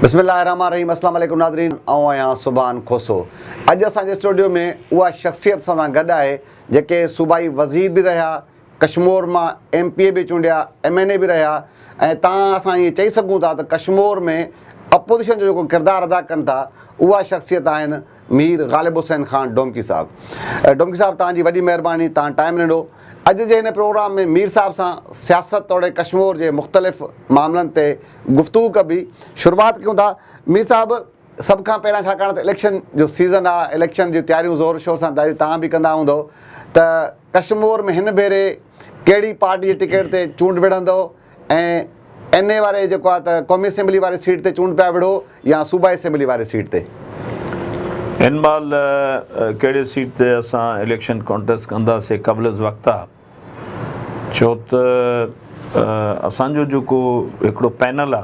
بسم الله الرحمٰن الرحيم اسلام عليڪم ناظرين آئون آهيان سبحان کوسو اڄ اسان جي اسٽوڊيو ۾ اها شخصيت اسان سان گڏ آهي جيڪي صوبائي وزير به رهيا ڪشمور مان ايم پي اي به چونڊيا ايم اين اي به رهيا ۽ تان اسان ائين چئي سگهون ٿا ته ڪشمور ۾ اپوزيشن جو جيڪو ڪردار ادا ڪن ٿا اها شخصيت آهن مير غالب حسين خان ڊومڪي صاحب ڊومڪي صاحب توهان جي وڏي مهرباني توهان ٽائيم ڏنو اڄ جي هن پروگرام ۾ مير صاحب سان سياست توڙي ڪشمور جي مختلف معاملن تي گفتگو ڪبي شروعات ڪيون ٿا مير صاحب سڀ کان پهريان ڇاڪاڻ ته اليڪشن جو سيزن آ اليڪشن جي تياريون زور شور سان ظاهري توهان به ڪندا هوندؤ ته ڪشمور ۾ هن ڀيري ڪهڙي پارٽي جي ٽڪيٽ تي چونڊ وڙهندؤ ۽ اين اي واري جيڪو آهي ته قومي اسيمبلي واري سيٽ تي چونڊ پيا وڙهو يا صوبائي اسيمبلي واري سيٽ تي؟ ان مهل ڪهڙي سيٽ تي اسان اليڪشن ڪانٽيسٽ ڪنداسي قبل از وقت آ ڇو ته اسان جو جيڪو هڪڙو پينل آ.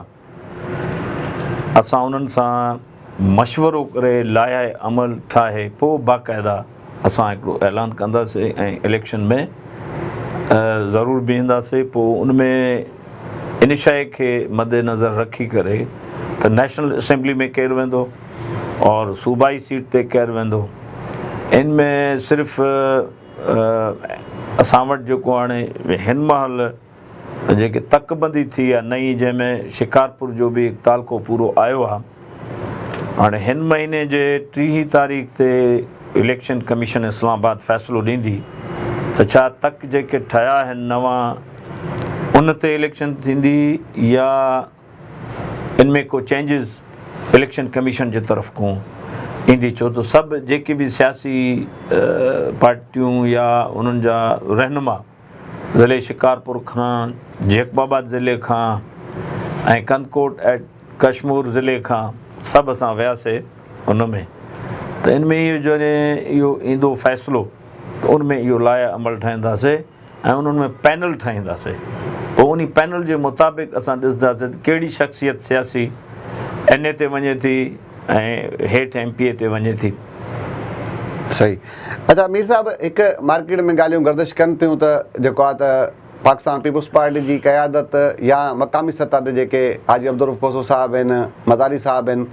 اسان انهن سان مشورو ڪري لائحه عمل ٺاهي پوء باقاعده اسان هڪڙو اعلان ڪنداسين ۽ اليڪشن ۾ ضرور بيهنداسين پوء ان ۾ ان شئي کي مدنظر رکي ڪري ته نيشنل اسيمبلي ۾ ڪير ويندو اور صوبائي سيٽ تي ڪير ويندو ان ۾ صرف اسان وٽ جيڪو هاڻي هن مهل جيڪي تڪ بندي ٿي آ نئين جنهن ۾ شڪارپور جو به هڪ تعلقو پورو آيو آ هاڻي هن مهيني جي ٽيهين تاريخ تي اليڪشن ڪميشن اسلام آباد فيصلو ڏيندي ته ڇا تڪ جيڪي ٺهيا آهن نوان ان تي اليڪشن ٿيندي يا ان ۾ ڪو چينجز اليڪشن ڪميشن جي طرف کون ايندي ڇو ته سڀ جيڪي به سياسي پارٽيون يا انهن جا رهنما ضلعي شڪارپور کان، جيڪب آباد ضلعي کان ۽ ڪنڌڪوٽ ايٽ ڪشمور ضلعي کان سڀ اسان وياسي ان ۾ ته ان ۾ اهو جڏهن اهو ايندو فيصلو ته ان ۾ اهو لائحه عمل ٺاهينداسي ۽ انهن ۾ پينل ٺاهينداسي پوء انهي پينل جي مطابق اسان ڏسنداسي ته ڪهڙي شخصيت سياسي اين اي تي وڃي ٿي ۽ هيٺ ايم پي اي تي وڃي ٿي. صحيح اڇا مير صاحب هڪ مارڪيٽ ۾ ڳالهيون گردش ڪن ٿيون ته جيڪو آهي ته پاڪستان پيپلز پارٽي جي قيادت يا مقامي سطح تي جيڪي حاجي عبدالروف کوسو صاحب آهن مزاري صاحب آهن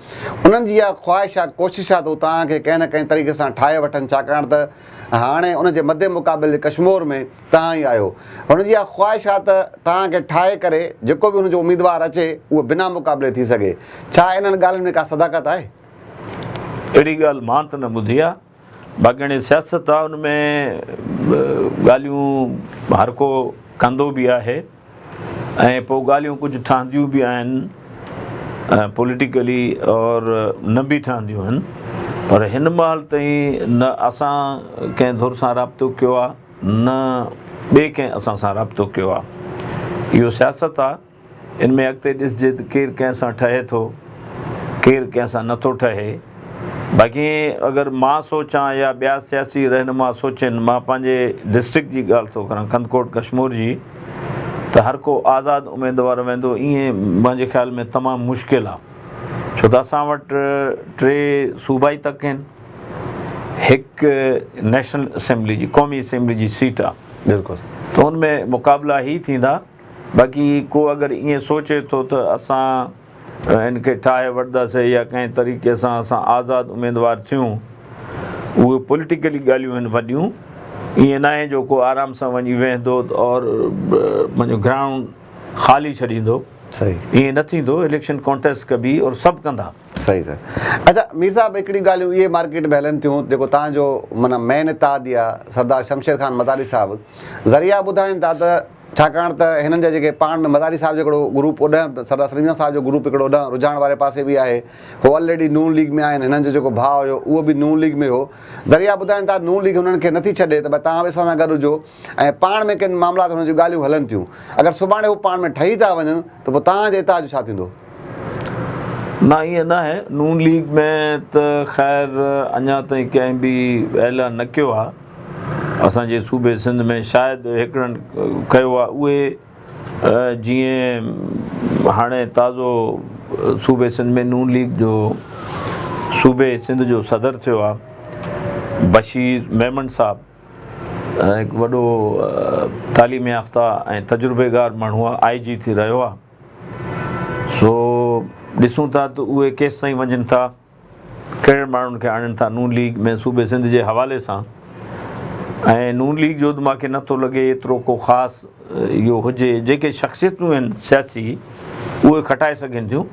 انهن جي اها خواهش آهي ڪوشش آهي ته هو توهان کي ڪنهن نه ڪنهن طريقي سان ٺاهي وٺن ڇاڪاڻ ته هاڻي ان جي مدي مقابل ڪشمور ۾ توهان ئي آهيو. هن جي اها خواهش آهي ته توهان کي ٺاهي ڪري جيڪو به هن جو اميدوار اچي اهو بنا مقابلي ٿي سگهي. ڇا انهن ڳالهين ۾ ڪا صداقت آهي؟ اهڙي ڳالهه مان ته نه ٻڌي آهي. باقي هاڻي سياست آهي ان ۾ ڳالهيون هر ڪو ڪندو به آهي ۽ پوء ڳالهيون ڪجهه ٺهنديون به آهن پوليٽيڪلي اور نه به ٺهنديون آهن پر هن مهل تائين نه اسان ڪنهن ڌر سان رابطو ڪيو آهي نه ٻئي ڪنهن اسان سان رابطو ڪيو آ. اهو سياست آ. ان ۾ اڳتي ڏسجي ته ڪير ڪنهن سان ٺهي ٿو، ڪير ڪنهن سان نه ٿو ٺهي. باقي اگر مان سوچان يا ٻيا سياسي رهنما سوچين، مان پنهنجي ڊسٽرڪٽ جي ڳالهه ٿو ڪران ڪنڌڪوٽ ڪشمور جي ته هر ڪو آزاد اميدوار ويندو ايئن منهنجي خيال ۾ تمام مشڪل آ. ڇو ته اسان وٽ ٽي صوبائي تڪ هين. هڪ نيشنل اسيمبلي جي قومي اسيمبلي جي سيٽ آ بلڪل ته ان ۾ مقابلا هي ٿيندا باقي ڪو اگر ائين سوچي ٿو ته اسان ان کي ٺاهي وٺداسي يا ڪنهن طريقي سان اسان آزاد اميدوار ٿيون اهي پوليٽيڪلي ڳالهيون آهن وڏيون ائين ناهي جو ڪو آرام سان وڃي ويهندو اور پنهنجو گرائونڊ خالي ڇڏيندو صحيح ائين نه ٿيندو اليڪشن ڪانٽيسٽ ڪبي اور سڀ ڪندا صحيح صحيح اچا مير صاحب هڪڙي ڳالهيون اهي مارڪيٽ ۾ هلن ٿيون جيڪو تهان جو معنيٰ مين اتحادي آ سردار شمشير خان مزاري صاحب ذريعا ٻڌائين ٿا ته ڇاڪاڻ ته هنن جا جيڪي پاڻ ۾ مزاري صاحب جو هڪڙو گروپ اوڏانهن سردار سليم جان صاحب جو گروپ هڪڙو اوڏانهن رجحان واري پاسي به آهي هو آلريڊي نون ليگ ۾ آهن هنن جو جيڪو ڀاء هيو اهو به نون ليگ ۾ هو ذريعا ٻڌائين ٿا نون ليگ هنن کي نٿي ڇڏي ته ڀاء تهان به اسان سان گڏ هجو ۽ پاڻ ۾ ڪن معاملات هئڻ جون ڳالهيون هلن ٿيون. اگر سڀاڻي هو پاڻ ۾ ٺهي ٿا وڃن ته پوء توهان جي اتحاد جو ڇا ٿيندو؟ نه ائين ناهي، نون ليگ ۾ ته خير اڃا تائين ڪنهن به اعلان نه ڪيو آهي، اسان جي صوبي سنڌ ۾ شايد هڪڙن ڪيو آهي اهي جيئن هاڻي تازو صوبي سنڌ ۾ نون ليگ جو صوبي سنڌ جو صدر ٿيو آهي بشير ميمڻ صاحب، هڪ وڏو تعليم يافته ۽ تجربيڪار ماڻهو آء جي ٿي رهيو آ سو ڏسون ٿا ته اهي ڪيستائين وڃن ٿا ڪهڙن ماڻهن کي آڻين ٿا نون ليگ ۾ صوبي سنڌ جي حوالي سان ۽ نون ليگ جو ته ماکي نٿو لڳي ايترو ڪو خاص اهو هجي جيڪي شخصيتون آهن سياسي اهي کٽائي سگهن ٿيون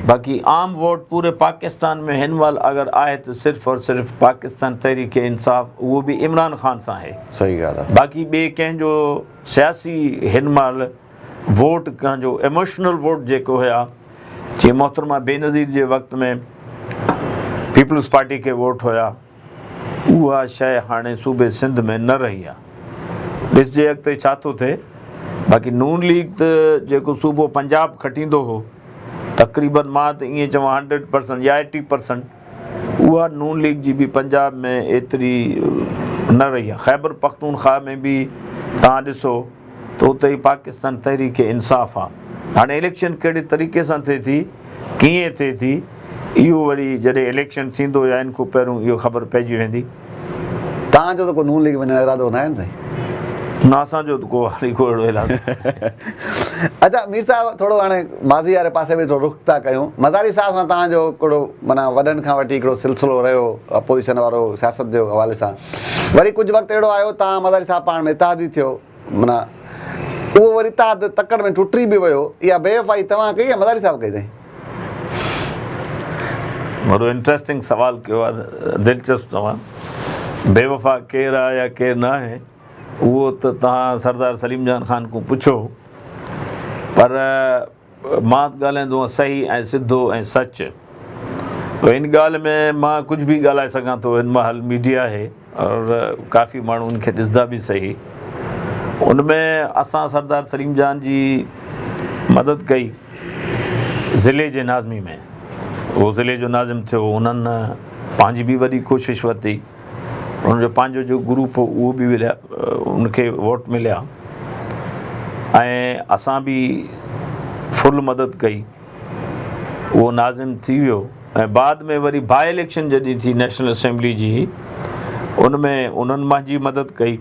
باقي عام ووٽ پوري پاڪستان ۾ هن مهل اگر آهي ته صرف اور صرف پاڪستان تحريڪ انصاف اهو به عمران خان سان آهي صحيح ڳالهه آهي باقي ٻي ڪنهن جو سياسي هن مهل ووٽ ڪنهن جو ايموشنل ووٽ جيڪو هيا جي محترمه بينظير جي وقت ۾ پيپلز پارٽي کي ووٽ هيا اها شيء هاڻي صوبي سنڌ ۾ نه رهي آ. ڏسجي اڳتي ڇا ٿو ٿئي. باقي نون ليگ ته جيڪو صوبو پنجاب کٽيندو هو تقريبن مان ته ائين چوان هنڊريڊ پرسنٽ يا ايٽي پرسنٽ اها نون ليگ جي به پنجاب ۾ ايتري نه رهي آ. خيبر پختونخواهه ۾ به توهان ڏسو. ته اتي ئي پاڪستان تحريڪ انصاف آ. هاڻي اليڪشن ڪهڙي طريقي سان ٿئي ٿي، ڪيئن ٿئي ٿي، اهو وري جڏهن اليڪشن ٿيندو يا ان کون پهرون اهو خبر پئجي ويندي. توهان جو ته ڪو نون ليگ وڃڻ جو ارادو ناهي نه سائين؟ نه اسان جو ته ڪو هالي ڪو اهڙو ارادو ناهي. اچا مير صاحب ٿورو هاڻي ماضي واري پاسي به ٿورو رخ ٿا ڪيون. مزاري صاحب سان توهان جو ڪهڙو معنيٰ وڏن کان وٺي هڪڙو سلسلو رهيو اپوزيشن وارو سياست جي حوالي سان؟ وري ڪجهه وقت اهڙو آيو تان مزاري صاحب پاڻ ۾ اتحادي ٿيو. معنيٰ اهو وري اتحاد تڪڙ ۾ ٽٽي به ويو. اها بي وفائي توهان ڪئي يا مزاري صاحب ڪئي سائين؟ وڏو انٽريسٽنگ سوال ڪيو آهي دلچسپ توهان. بي وفا ڪير آهي يا ڪير نه آهي اهو ته توهان سردار سليم جان خان کون پڇو پر مان ڳالهائيندو هئس صحيح ۽ سڌو ۽ سچ. پر ان ڳالهه ۾ مان ڪجهه به ڳالهائي سگهان ٿو هن مهل ميڊيا آهي اور ڪافي ماڻهو ان کي ڏسندا به صحيح ان ۾ اسان سردار سليم جان جي مدد ڪئي ضلعي جي ناظمي ۾ هو ضلعي جو ناظم ٿيو انهن پنهنجي به وڏي ڪوشش ورتي. ان جو پنهنجو جو گروپ هو اهو به ولهيا ان کي ووٽ مليا ۽ اسان به فل مدد ڪئي اهو ناظم ٿي ويو ۽ بعد ۾ وري باء اليڪشن جڏهن ٿي نيشنل اسيمبلي جي ان ۾ انهن منهنجي مدد ڪئي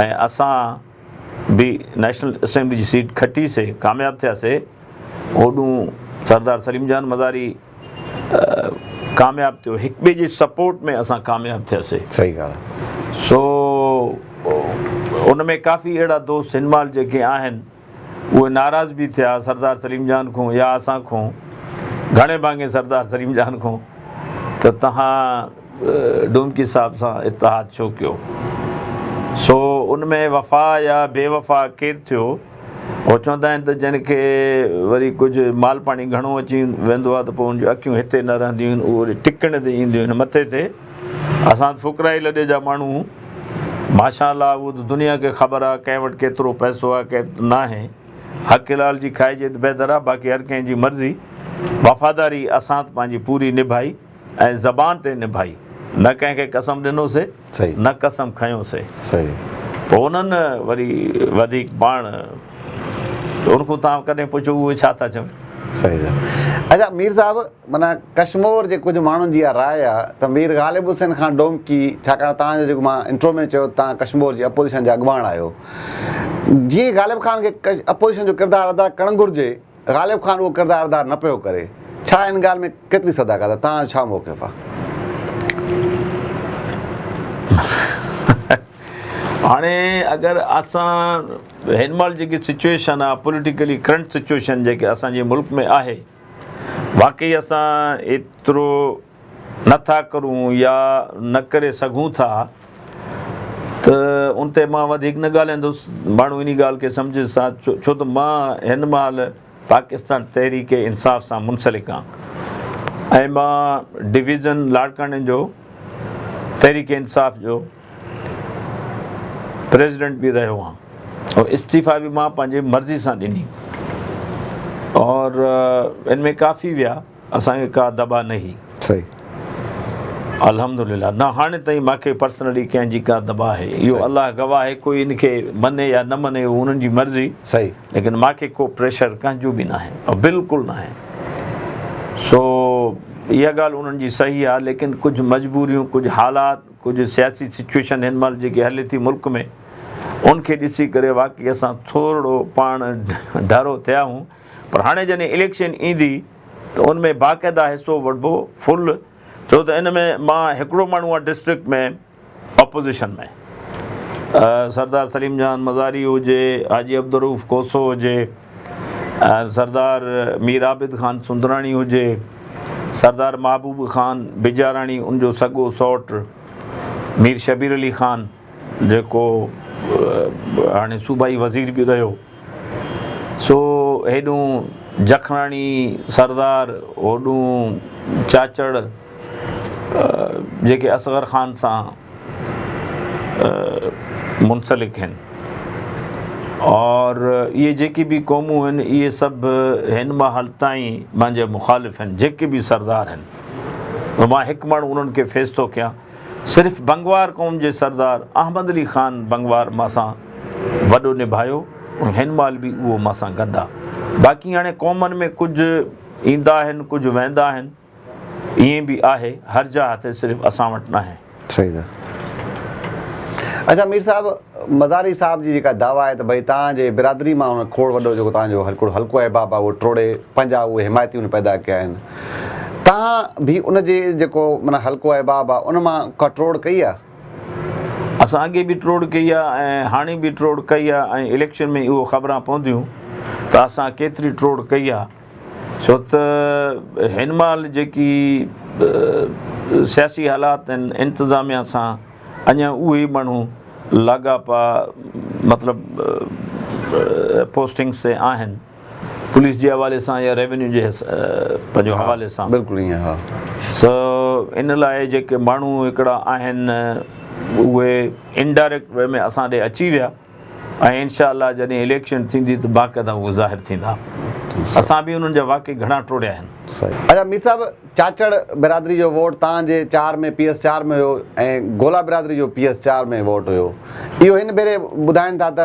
۽ اسان به نيشنل اسيمبلي جي سيٽ کٽيسي ڪامياب ٿياسي اوڏون سردار سليم جان مزاري ڪامياب ٿيو هڪ ٻئي جي سپورٽ ۾ اسان ڪامياب ٿياسي صحيح ڳالهه آهي سو ان ۾ ڪافي اهڙا دوست هن مال جيڪي آهن اهي ناراض به ٿيا سردار سليم جان کون يا اسان کون گهڻي ڀاڱي سردار سليم جان کون ته تهان ڊومڪي صاحب سان اتحاد ڇو ڪيو سو ان ۾ وفا يا بي وفا ڪير ٿيو هو چوندا آهن ته جنهن کي وري ڪجهه مال پاڻي گهڻو اچي ويندو آهي ته پوء ان جون اکيون هتي نه رهنديون آهن، اهو وري ٽڪڻ تي اينديون آهن مٿي تي اسان فقرائي لڏي جا ماڻهو آهون ماشاء الله اهو ته دنيا کي خبر آهي ڪنهن وٽ ڪيترو پئسو آهي ڪنهن وٽ ناهي حق حلال جي کائجي ته بهتر آهي باقي هر ڪنهن جي مرضي وفاداري اسان ته پنهنجي پوري نڀائي ۽ زبان تي نڀائي نه ڪنهن کي قسم ڏنوسي نه قسم کنيو سي. پوء انهن وري وڌيڪ پاڻ ان کون تان ڪڏهن پڇيو اهي ڇا ٿا چون؟ صحيح آ. اچا مير صاحب معنيٰ ڪشمور جي ڪجهه ماڻهن جي اها راء آ ته مير غالب حسين خان ڊومڪي ڇاڪاڻ توهان جو جيڪو مان انٽرو ۾ چيو ته توهان ڪشمور جي اپوزيشن جا اڳواڻ آهيو جيئن غالب خان کي اپوزيشن جو ڪردار ادا ڪرڻ گهرجي غالب خان اهو ڪردار ادا نه پيو ڪري، ڇا ان ڳالهه ۾ ڪيتري صداقت آهي، توهان جو ڇا موقف آهي؟ هاڻي اگر اسان هن مهل جيڪي سچوئيشن آهي پوليٽيڪلي ڪرنٽ سچوئيشن جيڪي اسان جي ملڪ ۾ آهي واقعي اسان ايترو نه ٿا ڪرون يا نه ڪري سگهون ٿا ته ان تي مان وڌيڪ نه ڳالهائيندس. ماڻهو انهي ڳالهه کي سمجهي سا ڇو ته مان هن مهل پاڪستان تحريڪ انصاف سان منسلڪ آهيان ۽ مان ڊويزن لاڙڪاڻي جو تحريڪ انصاف جو پريزيڊنٽ به رهيو آهيان ۽ استعيفا به مان پنهنجي مرضي سان ڏني اور ان ۾ ڪافي ويا. اسان کي ڪا دٻا نهي. صحيح. الحمدلله نه هاڻي تائين ماکي پرسنلي ڪنهن جي ڪا دٻا آهي اهو الله گواهه آهي ڪوئي ان کي مڃي يا نه مڃي اهو انهن جي مرضي صحيح ليڪن ماکي ڪو پريشر ڪنهن جو به ناهي او بلڪل ناهي سو اها ڳالهه انهن جي صحيح آهي ليڪن ڪجهه مجبوريون ڪجهه حالات ڪجهه سياسي سچويشن هن مهل جيڪي هلي ٿي ملڪ ۾ ان کي ڏسي ڪري واقعي اسان ٿورڙو پاڻ ڍرو ٿيا آهون پر هاڻي جڏهن اليڪشن ايندي ته ان ۾ باقاعده حصو وٺبو فل ڇو ته ان ۾ مان هڪڙو ماڻهو آهيان ڊسٽرڪٽ ۾ اپوزيشن ۾ سردار سليم جان مزاري هجي حاجي عبدالروف کوسو هجي سردار مير عابد خان سندراڻي هجي سردار محبوب خان بجاراڻي ان جو سڳو سئوٽ مير شبير علي خان جيڪو هاڻي صوبائي وزير به رهيو، سو هيڏون جکڻاڻي سردار هوڏون چاچڙ جيڪي اصغر خان سان منسلڪ هين اور اهي جيڪي به قومون هين اهي سڀ هن مهل تائين مانجي مخالف هين جيڪي به سردار هين مان هڪ ماڻهو انهن کي فيس ٿو ڪيان صرف بنگوار قوم جي سردار احمد علي خان بنگوار مان سان وڏو نڀايو ۽ هن مهل به اهو مان سان گڏ آ باقي هاڻي قومن ۾ ڪجهه ايندا آهن ڪجهه ويندا آهن ائين به آهي هر جا هٿي صرف اسان وٽ ناهي. صحيح سر اچا مير صاحب مزاري صاحب جي جيڪا دعويٰ آهي ته ڀئي تان جي برادري مان هن کهوڙ وڏو جيڪو تان جو هڪڙو حلقو احباب آ اهو ٽوڙي پنهنجا اهي حمايتي ان پيدا ڪيا آهن تان به ان جي جيڪو معنيٰ حلقو احباب آ ان مان ڪا ٽروڙ ڪئي آ؟ اسان اڳي به ٽروڙ ڪئي آ ۽ هاڻي به ٽروڙ ڪئي آ ۽ اليڪشن ۾ اهو خبران پونديون ته اسان ڪيتري ٽروڙ ڪئي آ ڇو ته هن مهل جيڪي سياسي حالات آهن انتظاميا سان اڃا اهي ماڻهو لاڳاپا مطلب پوسٽنگس تي آهن. پوليس جي حوالي سان يا ريونيو جي پنهنجو حوالي سان بلڪل ائين ها سو ان لاء جيڪي ماڻهو هڪڙا آهن اهي انڊائريڪٽ وي ۾ اسان ڏي اچي ويا ۽ انشاء الله جڏهن اليڪشن ٿيندي ته باقاعده اهي ظاهر ٿيندا اسان به انهن جا واقعي گهڻا ٽوڙيا آهن. اچا مير صاحب چاچڙ برادري جو ووٽ تان جي چار ۾ پي ايس چار ۾ هيو ۽ گولا برادري جو پي ايس چار ۾ ووٽ هيو اهو هن ڀيري ٻڌائين ٿا ته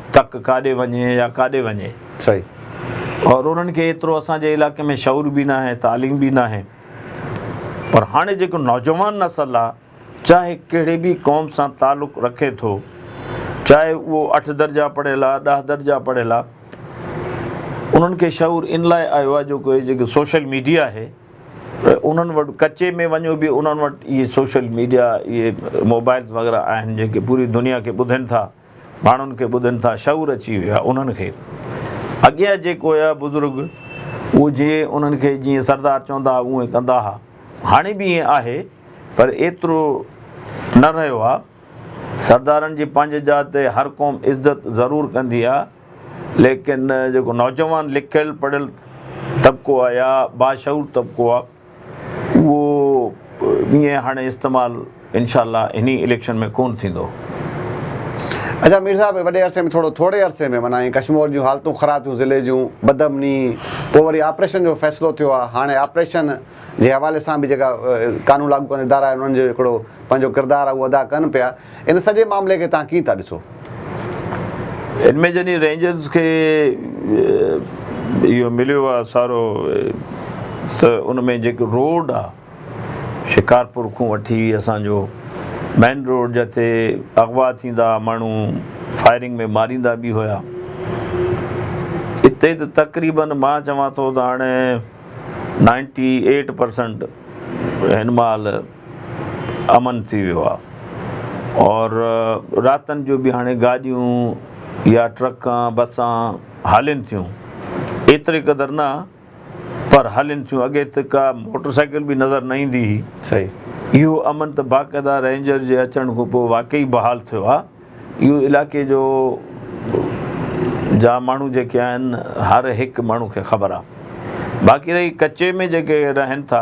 تڪ ڪاڏي وڃي يا ڪاڏي وڃي. صحيح. اور انهن کي ايترو اسان جي علائقي ۾ شعور به ناهي تعليم به ناهي پر هاڻي جيڪو نوجوان نسل آ چاهي ڪهڙي به قوم سان تعلق رکي ٿو چاهي اهو اٺ درجا پڙهيل آ ڏهه درجا پڙهيل آ انهن کي شعور ان لاء آيو آ جو ڪوئي جيڪو سوشل ميڊيا آهي انهن وٽ ڪچي ۾ وڃو به انهن وٽ اهي سوشل ميڊيا اهي موبائلز وغيره آهن جيڪي پوري دنيا کي ٻڌين ٿا. ماڻهن کي ٻڌن ٿا شعور اچي ويو آهي انهن کي اڳيان جيڪو هيا بزرگ اهو جي انهن کي جيئن سردار چوندا هئا اهئين ڪندا ها هاڻي به اهئين آهي پر ايترو نه رهيو آهي سردارن جي پنهنجي جاء تي هر قوم عزت ضرور ڪندي آهي ليڪن جيڪو نوجوان لکيل پڙهيل طبقو آهي يا باشعور طبقو آهي اهو ائين هاڻي استعمال انشاء الله انهي اليڪشن ۾ ڪون ٿيندو. اچا مير صاحب وڏي عرصي ۾ ٿورو ٿوري عرصي ۾ معنيٰ ائين ڪشمور جون حالتون خراب ٿيون ضلعي جون بدامني پوء وري آپريشن جو فيصلو ٿيو آ هاڻي آپريشن جي حوالي سان به جيڪا قانون لاڳو ڪندڙ ادارا آهن انهن جو هڪڙو پنهنجو ڪردار آ اهو ادا ڪن پيا ان سڄي معاملي کي توهان ڪيئن ٿا ڏسو؟ ان ۾ جنھن رينجرز کي اهو مليو آهي سارو ته ان ۾ جيڪو روڊ آهي شڪارپور کون وٺي اسان جو مين روڊ جتي اغوا ٿيندا ماڻهو فائرنگ ۾ ماريندا به هيا اتي ته تقريبا مان چوان ٿو ته هاڻي نائنٽي ايٽ پرسنٽ هن مهل امن ٿي ويو آهي اور راتن جو به هاڻي گاڏيون يا ٽرڪان بسان هلين ٿيون ايتري قدر نه پر هلين ٿيون اڳي ته ڪا موٽر سائيڪل به نظر نه ايندي هئي اهو امن ته باقاعده رينجر جي اچڻ کان پوء واقعي بحال ٿيو آهي اهو علائقي جو جا ماڻهو جيڪي آهن هر هڪ ماڻهو کي خبر آهي باقي رهي ڪچي ۾ جيڪي رهن ٿا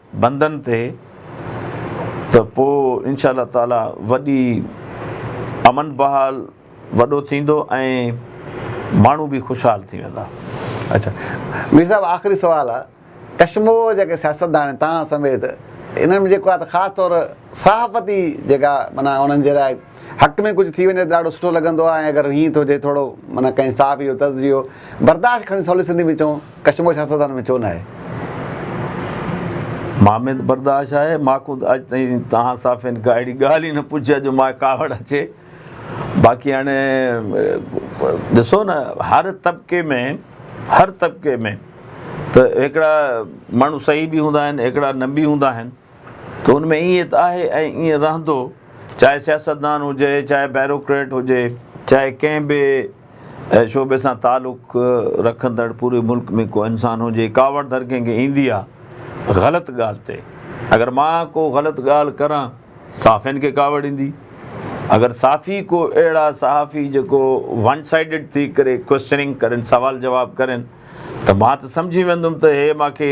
بندن تي ته پوء انشاء الله تعاليٰ وڏي امن بحال وڏو ٿيندو ۽ ماڻهو به خوشحال ٿي ويندا. اچا مير صاحب آخري سوال آ ڪشمو جيڪي سياستدان توهان سميت انهن ۾ جيڪو آ ته خاص طور صحافتي جيڪا معنيٰ انهن جي لاء حق ۾ ڪجهه ٿي وڃي ته ڏاڍو سٺو لڳندو آهي ۽ اگر هيئن ٿو جي ٿورو معنيٰ ڪنهن صحافي جو طرز اهو برداشت کڻي سولي سنڌي ۾ چئون ڪشمور سياستدانن ۾ ڇو نه آهي. مان ۾ ته برداشت آهي مان خود اڄ تائين توهان صحافين کان اهڙي ڳالهه ئي نه پڇي آهي جو مان کي ڪاوڙ اچي باقي هاڻي ڏسو نه هر طبقي ۾ هر طبقي ۾ ته هڪڙا ماڻهو صحيح به هوندا آهن هڪڙا نه به هوندا آهن. ته ان ۾ ائين ته آهي ۽ ائين رهندو، چاهي سياستدان هجي، چاهي بيروڪريٽ هجي، چاهي ڪنهن به شعبي سان تعلق رکندڙ پوري ملڪ ۾ ڪو انسان هجي، ڪاوڙ ڌر ڪنهن کي ايندي آ غلط ڳالهه تي، اگر مان ڪو غلط ڳالهه ڪران، صحافين کي ڪاوڙ ايندي، اگر صحافي ڪو اهڙا صحافي جيڪو ون سائيڊڊ ٿي ڪري ڪوئسچننگ ڪرين، سوال جواب ڪرين ته مان ته سمجهي ويندم ته هي مان کي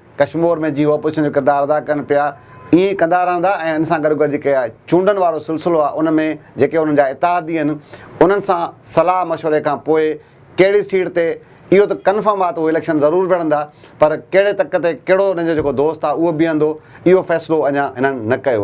ڪشمور ۾ جي اپوزيشن جو ڪردار ادا ڪن پيا ائين ئي ڪندا رهندا ۽ ان سان گڏوگڏ جيڪي چونڊن وارو سلسلو آهي ان ۾ جيڪي انهن جا اتحادي آهن انهن سان صلاح مشوري کان پوء ڪهڙي سيٽ تي اهو ته ڪنفرم آهي ته اهي اليڪشن ضرور وڙهندا پر ڪهڙي تڪ تي ڪهڙو انهن جو جيڪو دوست آهي اهو بيهندو اهو فيصلو اڃا هنن نه ڪيو آهي.